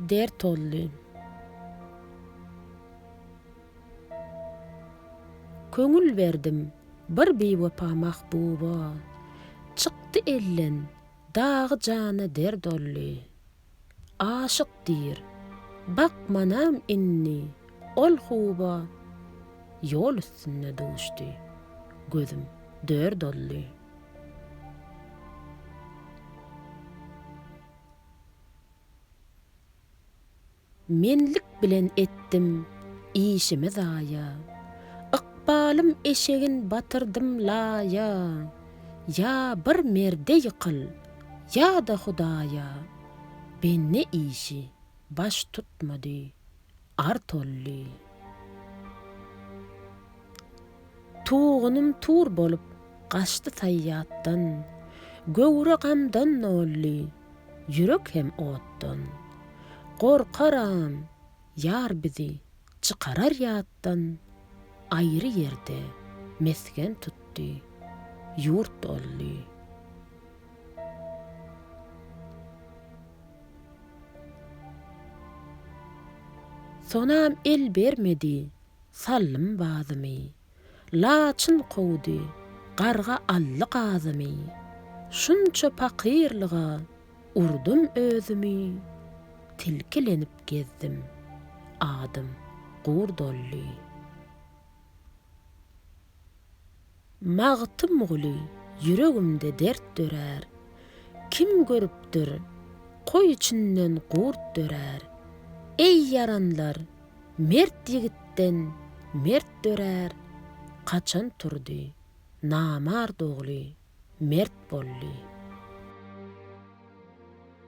Dert oldy. Köňül berdim bir biwepa mahbuba, Çykdy elden dagy jana dert oldy. Aşyk diýr, bakmanam indi ol huba, Ýol üstünde duşdy gözüm dört oldy. Menlik bilen etdim işimi zaýa, Ykbalym eşegin batyrdym laýa. Ýa bir merde ýykyl, ýa-da Hudaýa, Bende işi baş tutmady Ar tolly. Tugunym tur bolup gaçdy saýýatdan, Göwre gamdan nolly, ýürek hem otdan. Gorkaram, ýar bizi çykarar ýatdan, Aýry ýerde mesgen tutdy, ýurt olly. Sonam el bermedi, sallym bazymy. Laçyn kowdy, garga aldy gazymy. Şunça pakyrlyga urdum özümi, Tilkilenip gezdim, adym gurt oldy. Magtymguly ýüregimde dert dörär, Kim görüpdir, goý içinden gurt dörär. Eý ýaranlar, mert ýigitden mert dörär, Kaçan turdy, namart ogly mert boldy.